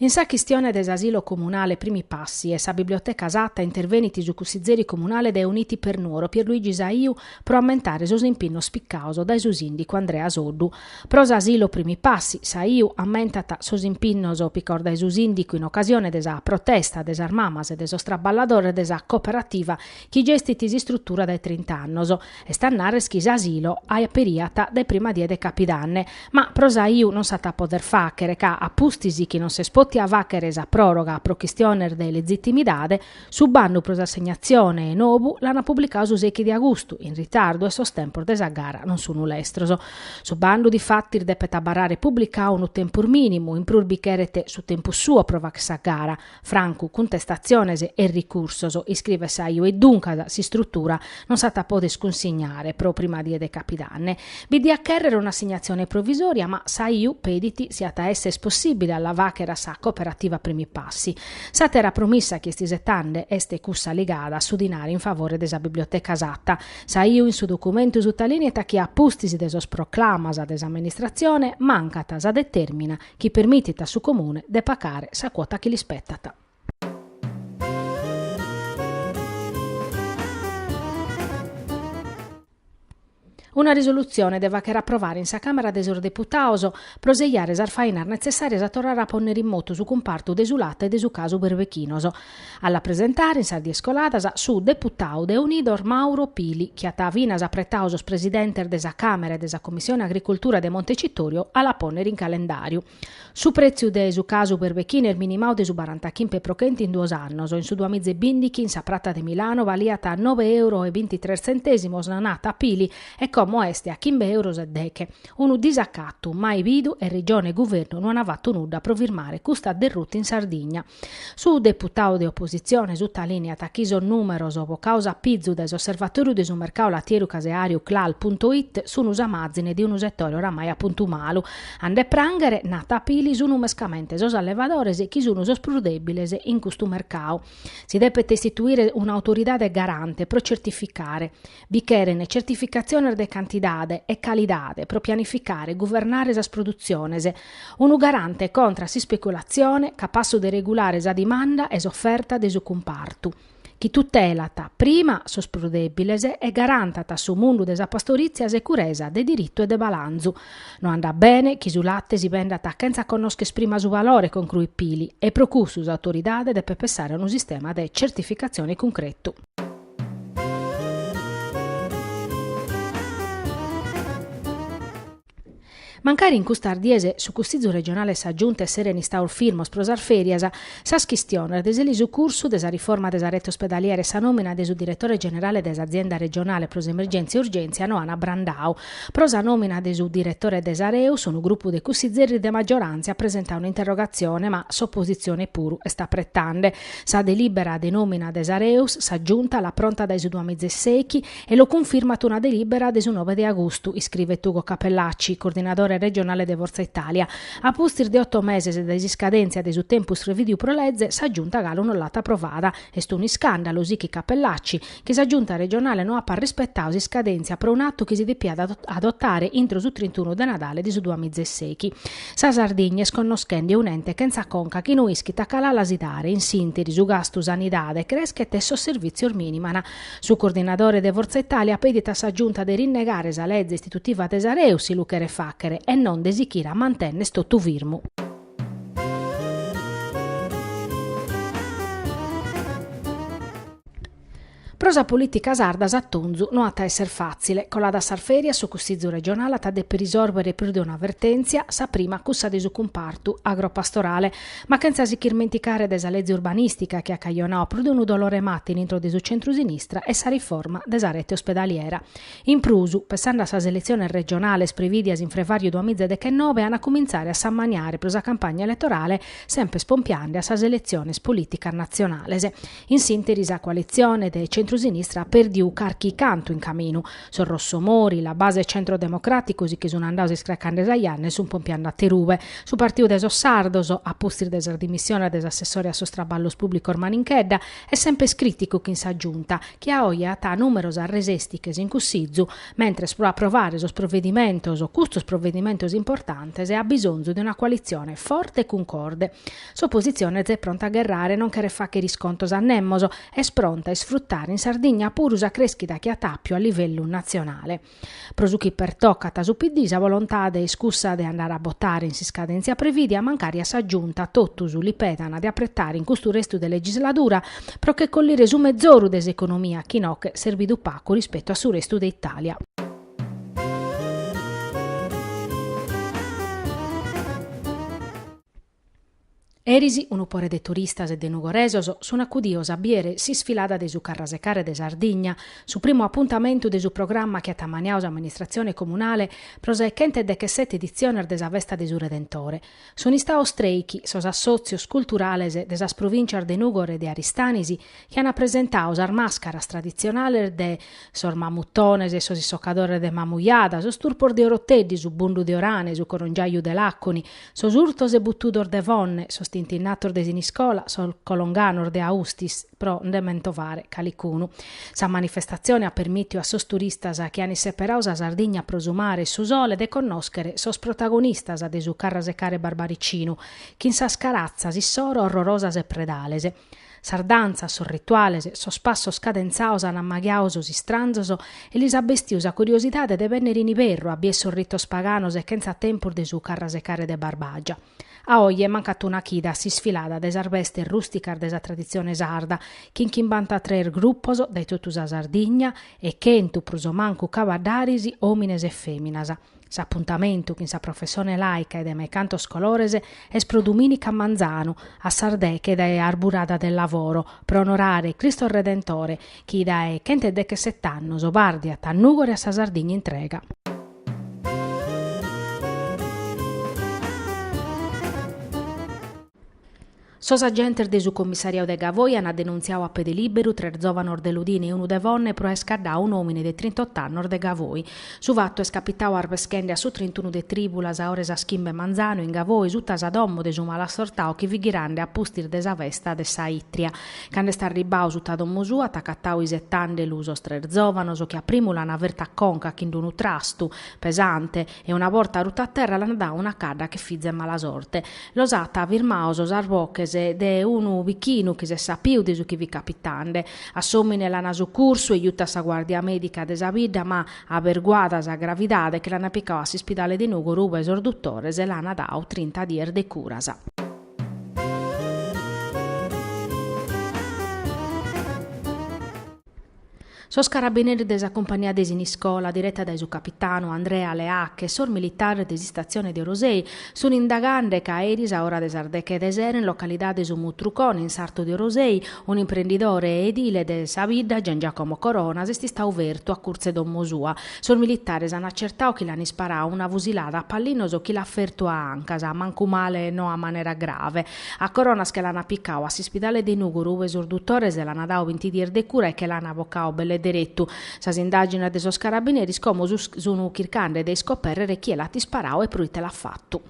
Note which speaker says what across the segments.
Speaker 1: In sa chistione de s'asilo comunale Primi Passi e sa biblioteca Satta intervenit su cussizeri comunale de Uniti per Nuoro Pierluigi Saiu pro ammentare sos impinnos picados dae su sìndicu Andrea Soddu. Pro s'asilo Primi Passi, Saiu ammentat sos impinnos picaos dae su Sìndicu in ocasione de sa protesta de sas mamas e de sos traballadores de sa cooperativa chi gestit s'istrutura dae trint'annos. Est a narrer chi s'asilo aperiat dae prima die de Capidanne, ma pro Saiu non s'at a poder fàghere ca, a pustis chi non s'est pòtia fàghere sa pròroga pro chistiones de legitimidade, su bandu pro s'assegnatzione 'e nobu l'ant publicadu su sechi de agustu, in ritardu e sos tempos de sa gara non sun lestros. Su bandu difatis depet abarrare publicadu unu tempus minimu, in prus bi cheret su tempus suo pro fagher sa gara, francu cuntestatziones e ricursos, iscribet Saiu. E duncas s'istrutura non s'at a poder cunsignare pro prima die de Capidanne. Bi diat chèrrere un'assegnatzione provisòria ma Saiu pedit si at a èssere possibile a la fagher a sa Cooperativa Primi Passi. S'àtera promissa chi est isetande est cussa ligada a su dinari in favore de sa biblioteca Satta. Saiu in su documentu sutalìneat chi a pustis de sos proclamas de s'amministratzione mancat sa detèrmina chi permitit a su Comune de pagare sa cuota chi l'ispetat. Una risolutzione de fagher aprovare in sa Càmera de sos Deputados pro seiare sas fainas netzessàrias a torrare a pònnere in motu su cumpartu de su late e de su casu berbechinos. A la presentare in sas dies coladas su deputadu de Unidos Mauro Pili, chi at finas apretadu sos presidentes de sa Càmera e de sa Commissione Agricultura de Montecitorio a la pònnere in calendàriu. Su prètziu de su casu berbechinu est minimadu de su barantachimpe pro chenti in duos annos, in su duamiza e bìndighi in sa Prata de Milano baliat a nobe euros e bintitres tzentèsimos, nat Pili, e como est a chimbe euros e deghe. Unu disacatu mai bidu e Regione e Guvernu no ant fatu nudda pro firmare custa derruta in Sardigna. Su deputadu de opositzione sutalìneat chi sos nùmeros bocaos a pizu dae s'osservatoriu de su mercadu latieru caseàriu Clal punto it, sun sa màzine de unu setore oramai a puntu malu. A nde prànghere, nat Pili, sun mescamente sos allevadores chi sun sos prus dèbiles in custu mercadu. Si depet istituire un'autoridade garante pro certificare. Bi cheren certificatziones de cantidade e calidade pro pianificare e guvernare sas produtziones, unu garante contra a s'ispeculatzione capassu de regulare sa dimanda e s'oferta de su cumpartu, chi tutelat prima sos prus dèbiles e garantat a su mundu de sa pastorìtzia securesa de diritu e de balanzu. No andat bene chi su late si bendat chentza connòscher prima su valore, concruit Pili, e pro cussu s'autoridade depet pensare a unu sistema de certificatzione cuncretu. Mancari in custas dies su Cussìgiu regionale e sa Giunta esseren istados firmos pro sas fèrias, sas chistiones de s'elisucursu de sa riforma de sa rete ospedaliera e sa nòmina de su diretore generale de s'Azienda regionale pro s'emergèntzia e urgèntzia no an abrandadu. Pro sa nòmina de su diretore de s'Areus unu grupu de cussigeris de maggioràntzia at presentadu un'interrogatzione ma s'opositzione puru est apretande. Sa delìbera de nòmina de s'Areus sa Giunta l'at pronta dae su duamiza e sèichi e lu cunfirmat una delìbera de su nove de agustu, iscrivet Ugo Cappellacci, coordinadore regionale de Fortza Italia. A pustis de oto meses dae s'iscadèntzia de su tempus prevìdiu pro lege, sa Giunta galu non l'at aprovada. Est un'iscàndalu, sichit Cappellacci. chi sa Giunta regionale no apat rispetadu s'iscadèntzia pro un'atu chi si depiat adotare intro su trintunu de Nadale de su duamiza e sèichi. Sa Sardigna est connoschende un'ente chentza conca chi no ischit a cale ala si dare, in s'ìnteri su gastu sanidade creschet e sos servìtzios miniman. Su coordinadore de Fortza Italia pedit a sa Giunta de rinnegare sa leze istitutiva de s'Areus si lu cheret fàghere e non de sichire a mantènner totu firmu. Pro sa polìtica sarda s'atonzu no at a èssere fàtzile. Coladas sas fèrias su Cussìgiu regionale at a dèpere isòrbere prus de una vertèntzia, sa prima cussa de su cumpartu agropastorale. Ma chentza si ch'irmenticare de sa lege urbanìstica chi at cajonadu prus de unu dolore 'e mata in intro de su centru-sinistra e sa riforma de sa rete ospedaliera. In prus, pessande a sas eletziones regionales prevìdias in frevàriu duamiza dechenobe an a cumintzare a s'ammaniare pro sa campagna eletorale sempes pompiande a sas eletziones polìticas natzionales. In s'ìnteri sa coalitzione de tzentru-sinistra at pèrdiu carchi cantu in caminu. Sos Rossomori, La Base e Centro Democratico si che sun andados iscracande sa janna e sun pompiande aterube. Su partiu de sos sardos, a pustis de sas dimissiones de s'assessore a sos traballos pùblicos Maninchedda, est sempes crìticu chin sa Giunta, chi a oe at nùmeros resèstiches in Cussizu, mentres pro aprovare sos provedimentos, custos provedimentos importantes, at bisonzu de una coalitzione forte e cuncorde. S'opositzione z'est pronta a gherrare, non cheret fàghere iscontos a nemos, est pronta a isfrutare in Sardigna puru sa crèschida chi at àpiu a livellu natzionale. Pro su chi pertocat a su PD sa bolontade est cussa de andare a botare in s'iscadèntzia prevìdia mancari a sa Giunta totus li pedan de apretare in custu restu de legisladura pro che collire su mezoru de s'economia chi nos at serbidu pagu rispetu a su restu de Itàlia. Eris unu pore de turistas e de nugoresos sun acudidos a biere s'isfilada de su Carrasecare de Sardigna, su primu apuntamentu de su programma chi at ammaniadu s'amministratzione comunale pro sas chentu e dechesete editziones de sa Festa de su Redentore. Sun istados trèichi sos assòtzios culturales de sas provìncias de Nùgoro e de Aristanis chi ant presentadu sas màscaras traditzionales de sos mamutones e sos issocadores de Mamujada, sos turpos de Oroteddi, su bundu de Orane, su corongiaju de Làconi, sos urtos e butudos de Fonne, sos tintinnatos de Siniscola, sos colonganos de Austis, pro nde mentovare calicunu. Sa manifestatzione at permìtiu a sos turistas chi ant isseperadu sa Sardigna pro su mare e su sole de connòschere sos protagonistas de su carrasecare barbaricinu, chin sas caratzas issoro orrorosas e predales, Sas dantzas, sos rituales, sos passos cadentzados an ammaghiadu sos istranzos e lis at bestiu sa curiosidade de bennere in iberru a bier sos ritos paganos e chentza tempus de su carrasecare de Barbagia. A oje mancat una chida a s'isfilada de sas bestes rusticas de sa traditzione sarda chin chimbantatrès gruppos dae totu sa Sardigna e chentu prus o mancu cabaddaris, omines e feminas. S'apuntamentu chin sa professone làica e de mai cantos colores est pro dumìnica manzanu a sas deche dae Arburada del Lavoro pro onorare Cristo Redentore chi dae chent'e dechesett'annos bardiat a Nùgoro e a sa Sardigna intrega. Sos agentes de su commissariau de Gavoi ant denuntziau a pede lìberu tres zòvanos de Lodine e unu de Fonne pro aer scaddau un'òmine de trintotto annos de Gavoi. Su fatu est capitau arbeschende a su trintunu de trìbulas a ora 'e sas chimbe 'e manzanu in Gavoi suta sa domo de su malasortau chi fit ghirande a pustis de sa festa de sa Itria. Cando est arribbau suta domo sua at acatau isetande lu sos tres zòvanos chi a primu l'ant fertu a conca chin d'unu trastu pesante e una borta rutu a terra l'ant dadu una cadda che fizu 'e mala sorte. Los at firmaos sas boches de unu bichinu chi s'est sapiu de su chi fit capitande. A s'òmine l'ant sucurtu e jutu a sa guàrdia mèdica de sa bidda ma, aberguada sa gravidade, che l'ant picadu a s'ispidale de Nùgoro ube sos dutores l'ant dadu trinta dies de curas. Sos carabineris de sa cumpania de Siniscola, direta dae su capitanu Andrea Leacche e sos militares de s'istatzione de Orosei, sunt indagande ca eris a ora de sas deche de sera in localidade Su Mutrucone, in sartu de Orosei, un'imprendidore edile de sa bidda, Gian Giacomo Coronas, est istau fertu a curtzu 'e domo sua. Sos militares an acertau chi l'an isparau una fusilada a pallinos chi l'at fertu a ancas, mancumale no a manera grave. A Coronas che l'ana picau a s'ispidale de Nùgoro ue sos duttores l'ana dau binti dies de cura e che l'ana bocau belle derettu. Sas indagines de sos carabineris como su sunu chircande de iscoperrere chie l'at isparau e proite l'at fattu.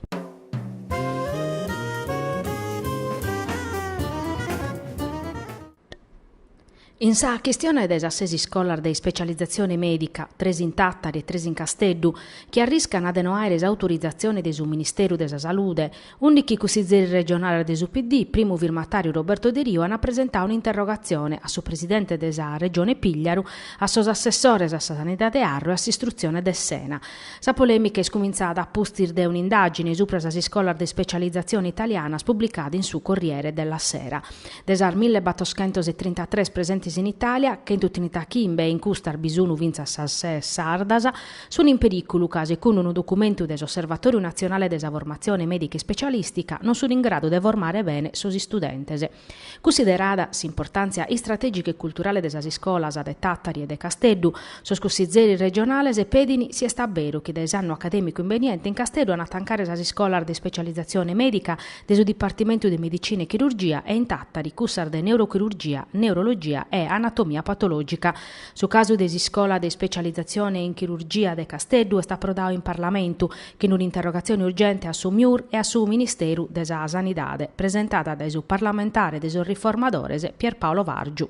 Speaker 1: In sa chistione de sas ses iscolas de ispecializatzione mèdica, tres in Tàtari e tres in Casteddu, chi arriscana de no àere s'autorizatzione de su Ministeru de sa Salude, ùndichi cussizeris regionales de su PD, primu firmatàriu Roberto Deriu, ana presentau un'interrogatzione a su presidente de sa Regione Pìgliaru, a sos assessores a sa Sanidade Arru e a s'Istrutzione Dessena. Sa polèmica est cumintzada a pustis de un'indàgine subra sas iscolas de ispecializatzione italianas publicada in su Corriere della Sera. De sas mille battoschentos e trintatres presentes in Itàlia, chentu trintachimbe, e in custas bi sunu fintzas sas ses sardas, sunu in perìculu ca, segundu unu documentu de s'Osservatòriu natzionale de sa formatzione mèdica ispecialìstica, non sunu in gradu de formare bene sos istudentes. Cussiderada s'importàntzia istratègica e culturale de sas iscolas de Tàtari e de Casteddu, sos cussizeris regionales pedin si est a beru chi dae s'annu acadèmicu imbeniente in Casteddu an a tancare sas iscolas de ispecializatzione mèdica de su dipartimentu de Medicina e Chirurgia e in Tàtari cussas de Neurochirurgia, Neurologia e Anatomia Patològica. Su casu de s'Iscola de Ispecializatzione in Chirurgia de Casteddu est aprodadu in Parlamentu chin un'interrogatzione urgente a su MIUR e a su Ministeru de sa Sanidade presentada dae su parlamentare de sos Riformadores Pierpaolo Vargiu.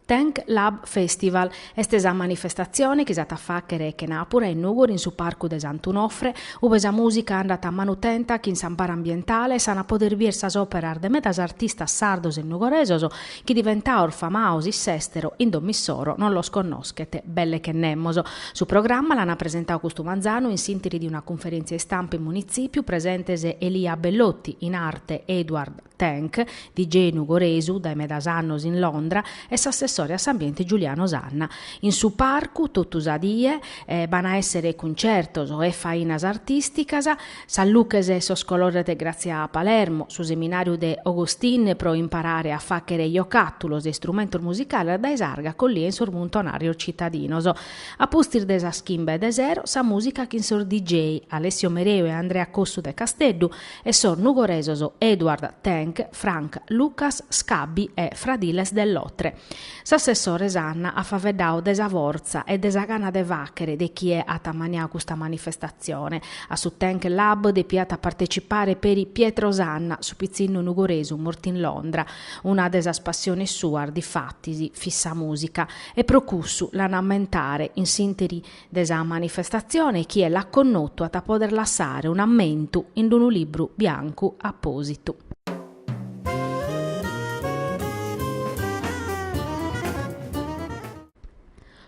Speaker 1: Tank Lab Festival est sa manifestatzione chi s'at a fàchere chenàpura in Nùgoro in su Parcu de Sant'Unofre, ue sa mùsica andat a manu tenta chin s'amparu ambientale, s'an a poder bier sas òperas de medas artistas sardos e nugoresos chi diventados famados in s'èstero in dom'issoro non los connoschet belle che nemos. Su programma l'an presentadu custu manzanu in s'ìnteri de una cunferèntzia istampa in Munitzipiu presentes Elia Bellotti, in arte Edward. Tank, DJ nugoresu dae medas annos in Londra, e s'assessore a s'ambiente Giuliano Sanna. In su parcu, totu sa die, b'an a èssere cuncertos e fainas artìsticas, sas luches e sos colores de Grazia Palermo, su seminàriu de Augustine pro imparare a fàchere jocàtulos e istrumentos musicales dae s'arga collia in sos muntonàrios citadinos. A pustis de sas chimbe de sero, sa mùsica chin sos DJ, Alessio Mereu e Andrea Cossu de Casteddu, e sos nugoresos Edward Tank, Frank Lucas, Skabi e Fradiles de Lotre. S'assessore Sanna at faveddau de sa fortza e de sa gana de fàchere de chie at ammaniau custa manifestatzione. A su Tank Lab depiat a partecipare peri Pietro Sanna, su pitzinnu nugoresu mortu in Londra. Una de sas passiones suas, difatis, fit sa mùsica e pro cussu l'an a ammentare in s'ìnteri de sa manifestatzione chie l'at connotu at a poder lassare un'ammentu in d-unu libru biancu apòsitu.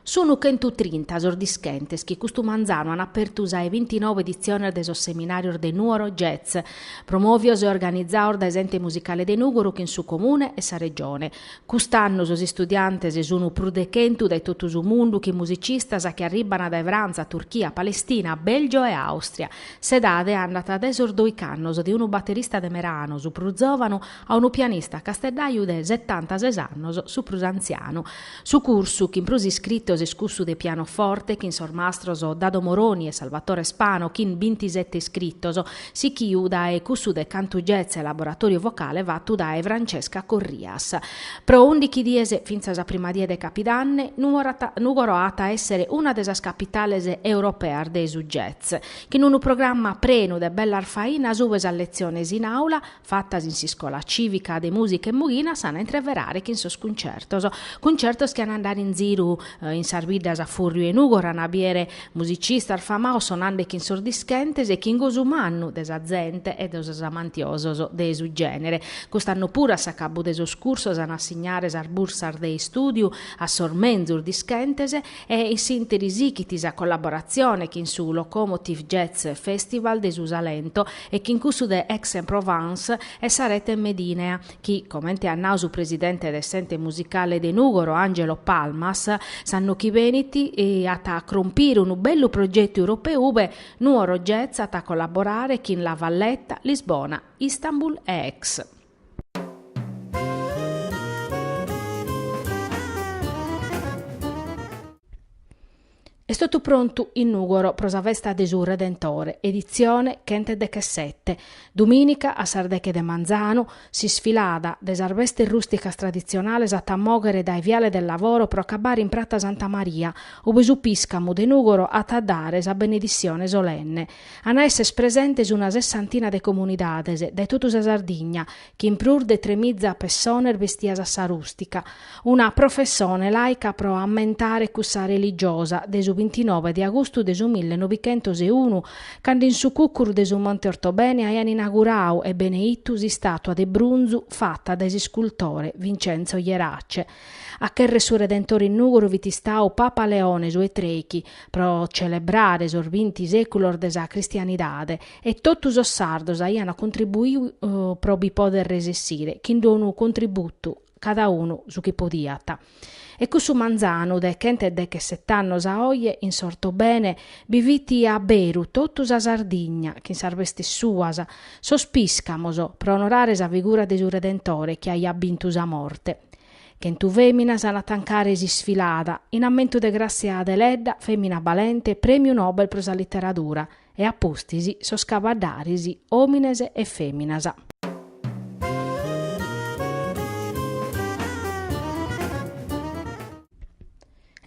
Speaker 1: Sunu chentu trinta sos dischentes chi custu manzanu an apertu sa 'e bintinove editziones de sos seminàrios de Nuoro Jazz, promòvios e organizados dae s'Ente Musicale de Nùgoro chin su Comune e sa Regione, Cust'annu sos istudiantes sunu prus de chentu dae totu su mundu chin musicistas chi arribana dae Frantza, Turchia, Palestina, Belgio e Austria. S'edade andat dae sos doich'annos de unu baterista de Merano, su prus zovanu, a unu pianista casteddaiu de setantases annos, su prus antzianu. Su cursu chin prus iscritos est cussu de pianoforte chin sos mastros Dado Moroni e Salvatore Spano chin bintisette iscritos. Sichiu dae cussu de cantu jazz e laboratoriu vocale fatu dae Francesca Corrias. Pro ùndighi dies, fintzas a sa prima die de Capidanne, Nùgoro at a èssere una de sas capitales europeas de su jazz, chin unu programma prenu de bellas fainas ue sas letziones in àula, fatas in s'iscola cìvica de mùsica 'e Mughina s'an a intreverare chin sos cuncertos, cuncertos chi an a andare in ziru in sas biddas a fùrriu 'e Nùgoro, an a bìere musicistas famaos sonande chin sos dischentes e chin gosu mannu de sa zente e de sos amantiosos de su gènere. Cust'annu puru a s'acabu de sos cursos an a assignare sas bursas de istùdiu a sos menzus dischentes e in s'ìnteri sichit sa collaboratzione chin su Locomotive Jazz Festival de su Salento e chin cussu de Aix-en-Provence e sa rete Medinea, chi, comente at nau su presidente de s'Ente Musicale de Nùgoro, Angelo Palmas, s'annu chi benit at a crompire unu bellu progetu europeu ube Nuoro Jazz at a collaborare chin La Valletta, Lisbona, Istanbul e Aix. Est totu prontu in Nùgoro pro sa festa de su Redentore, editzione chent'e dechesete. Domìnica, a sas deche de manzanu, s'isfilada de sas bestes rùsticas traditzionales at a mòghere dae Viale del Lavoro pro acabare in Prata Santa Maria, ube su Pìscamu de Nùgoro at a dare sa benedissione solenne. An a èssere presentes una sessantina de comunidades dae totu sa Sardigna chin prus de tremiza pessones bestias a sa rùstica, una prufessone laica pro ammentare cussa religiosa, de su bintinove de agustu de su mille nobighentos e unu, cando in su cucuru de su Monte Ortobene aian inaguradu e beneitu s'istàtua de brunzu fata dae s'iscultore Vincenzo Jerace, a cherrer su Redentore in Nùgoro fit istadu Papa Leone su 'e trèichi, pro celebrare sos binti sèculos de sa cristianidade, e totu sos sardos aiana contribuiu pro bi poder resessire chin d'unu contributu cada unu su chi podiat e cussu manzanu de chent'e deche sett'annos a oje in s'ortobene bi fit a beru totu sa Sardigna chin sas bestes suas sos piscamos pro onorare sa figura de su Redentore chi aiat bintu sa morte chentu feminas an a tancare s'isfilada in ammentu de Grazia Deledda femina balente premiu Nobel pro sa literadura e a pustis sos cabaddaris, òmines e fèminas.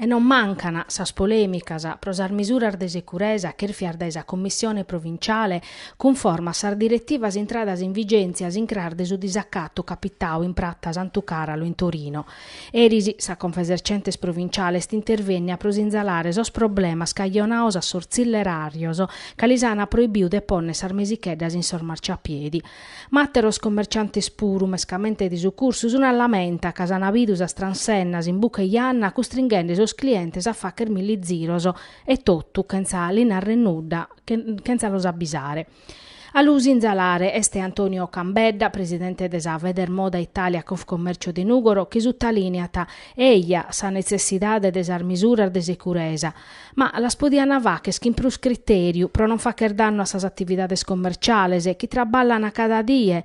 Speaker 1: E non mancan sas polèmicas pro sas misuras de securesa chèrfias dae sa Commissione provinciale cunforma a sas diretivas intradas in vigèntzia a s'incras de su disacatu capitadu in Prata Santu Càralu in Torino, Eris sa Confesercentes Provinciale est intervènnia pro sinzalare sos problemas cajonados a sos tzilleràrios ca lis ana proibiu de pònnere sas mesicheddas in sos marciapiedi. Ma àteros commerciantes puru, mescamente de su cursu, sun a lamenta ca s'ana bidu sas transennas in buca 'e janna custringhende sos clientes a facher milli ziros e totu chentza li narrer nudda, chentza los abbisare. A lu sinzalare est Antonio Cambedda, presidente de sa Federmoda Italia Confcommercio de Nùgoro, chi sutalìniat, eja, sa netzessidade de sas misuras de securesa, ma las podiant facher chin prus critèriu pro non facher dannu a sas atividades commerciales chi traballan cada die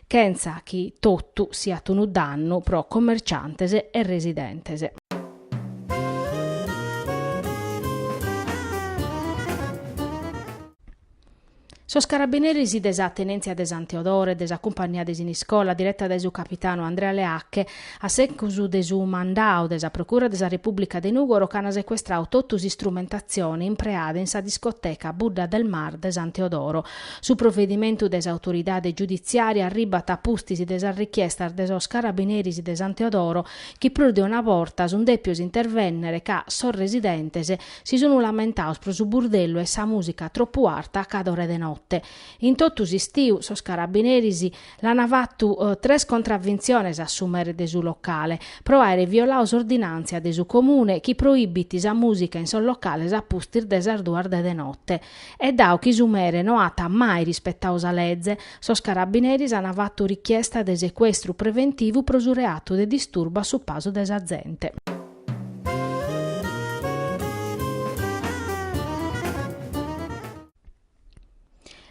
Speaker 1: chentza chi totu siat unu dannu pro commerciantes e residentes. Sos carabineris de sa Tenèntzia de San Teodoro e de sa Cumpagnia de Siniscola, direta dae su capitanu Andrea Leacche, A secus de su mandau de sa Procura de sa Repùblica de Nùgoro ch'ant secuestrau totu s'istrumentatzioni impreada in sa discoteca Buddha del Mar de San Teodoro. Su provedimentu de s'autoridade giuditziària arribat a pustis de sas richiestas de sos carabineris de San Teodoro chi prus de una borta sunt dèpios intervènnere ca sos residentes si sunt lamentados pro su burdellu e sa mùsica tropu arta a cada ora de note. In totu s'istiu sos carabineris L'ana fatu tres contravventziones a su mere de su locale pro aere violau s'ordinantzia de su Comune chi proibit sa musica in sos locales a pustis de sas duas de de notte. E dau chi su mere no at mai rispetau sa leze, sos carabineris ana fatu richiesta de secuestru preventivu pro su reatu de disturbu a su pasu de sa zente.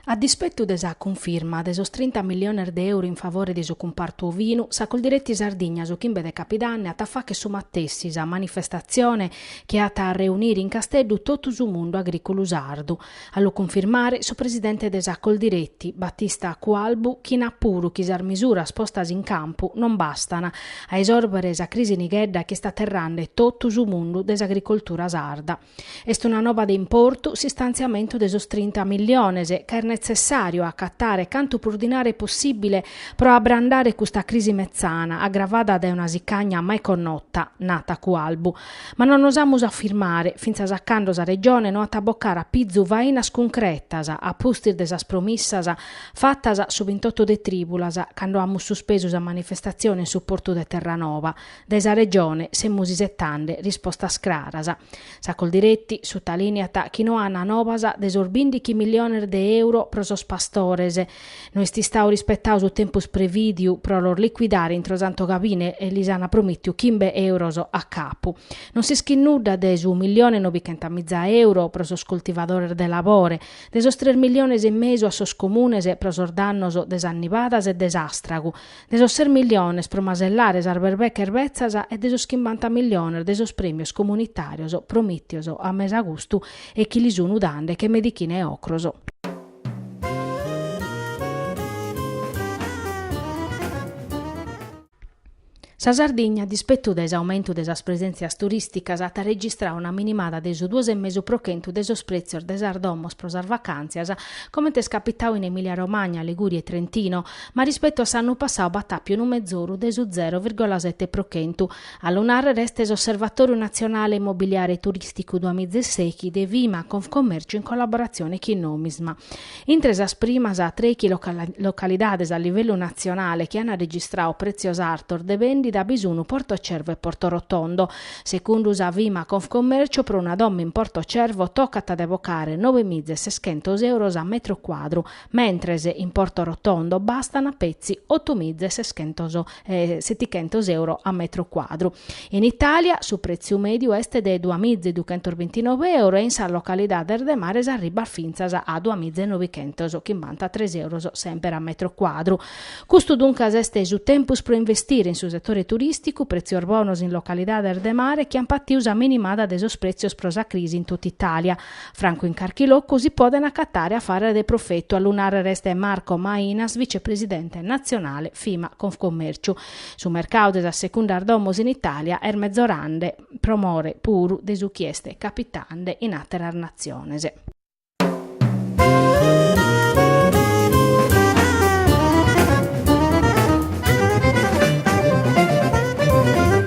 Speaker 1: A dispettu de sa cunfirma de sos trinta milliones de euro in favore de su cumpartu ovinu, sa Coldiretti Sardigna su chimbe de Capidanne at a fàcher su matessi sa manifestatzione chi at a reunire in Casteddu totu su mundu agrìculu sardu, a lu cunfirmare su presidente de sa Coldiretti, Battista Cualbu chi nat puru chi sas misuras postas in campu non bastan a esòrbere sa crisi nighedda chi est aterrande totu su mundu de s'agricoltura sarda. Est una noba de importu s'istanziamentu de sos trinta milliones ca est netzessàriu a acatare cantu prus dinare possìbile pro abrandare custa crisi metzana agravada dae una sicagna mai connota, nat Cualbu. Ma no nos amus a firmare, fintzas a cando sa Regione no at a bocare a pizu fainas cuncretas a pustis de sas promissas fatas su bintottu de trìbulas cando amus suspesu sa manifestatzione in su portu de Terranoba, Dae sa Regione semus isetande rispostas craras. Sa Coldiretti sutalìniat chi no an nobas de sos bìndichi milliones de euro pro sos pastores. No est istau rispetau su tempus prevìdiu pro los licuidare intro Santu Gabine e lis an promìtiu chimbe euros a capu. Non s'ischit nudda de su millione nobichenta miza euro pro sos coltivadores de labore, de sos tres milliones e mesu a sos comunes pro sos dannos de sas nibadas e de s'àstragu, de sos ses milliones pro masellare sas berbeches betzas e de sos chimbanta milliones de sos prèmios comunitàrios promìtios a mesagustu e chi lis sun dande che medichina 'e ocros. Sa Sardigna, a dispettu de s'aumentu de sas presèntzias turìsticas, at registrau una minimada de su duos e mesu pro chentu de sos prètzios de sas domos pro sas vacàntzias, comente est capitau in Emìlia-Romagna, Ligùria e Trentino, ma rispettu a s'annu passau b'at àpiu unu mezoru de su zero virgola sete pro chentu. A lu nàrrere est s'Osservatòriu natzionale immobiliare e turìsticu duamiza e sèichi de Fimaa Confcommercio in collaboratzione chin Nomisma. Intre sas primas trèichi localidades a livellu natzionale chi ant registrau prètzios artos de bèndida bi sunt Porto Cervo e Porto Rotondo. Secundu sa Fimaa Confcommercio pro una domo in Porto Cervo tocat de bocare nobemiza e seschentos euros a metro cuadru, mentres in Porto Rotondo bastana petzi oto miza e setichentos euro a metro cuadru. In Italia su pretziu mediu est de dua miza e duchentos bintinove euro e in sas localidades de mare s'arribbat fintzas a dua miza e nobichentos chimbantatres euros semper a metro cuadru. Custu duncas est su tempus pro investire in su setore turisticu, pretzios bonos in localidades de mare chi an patiu sa minimada de sos pretzios pro sa crisi in tota Italia, Francu in carchi locu si poden acatare afares de profetu, a lu nàrrere est Marco Mainas, vicepresidente natzionale Fimaa Confcommèrciu. Su mercadu de sas secundas domos in Itàlia est mezorande, pro more puru de su chi est capitande in àteras natziones.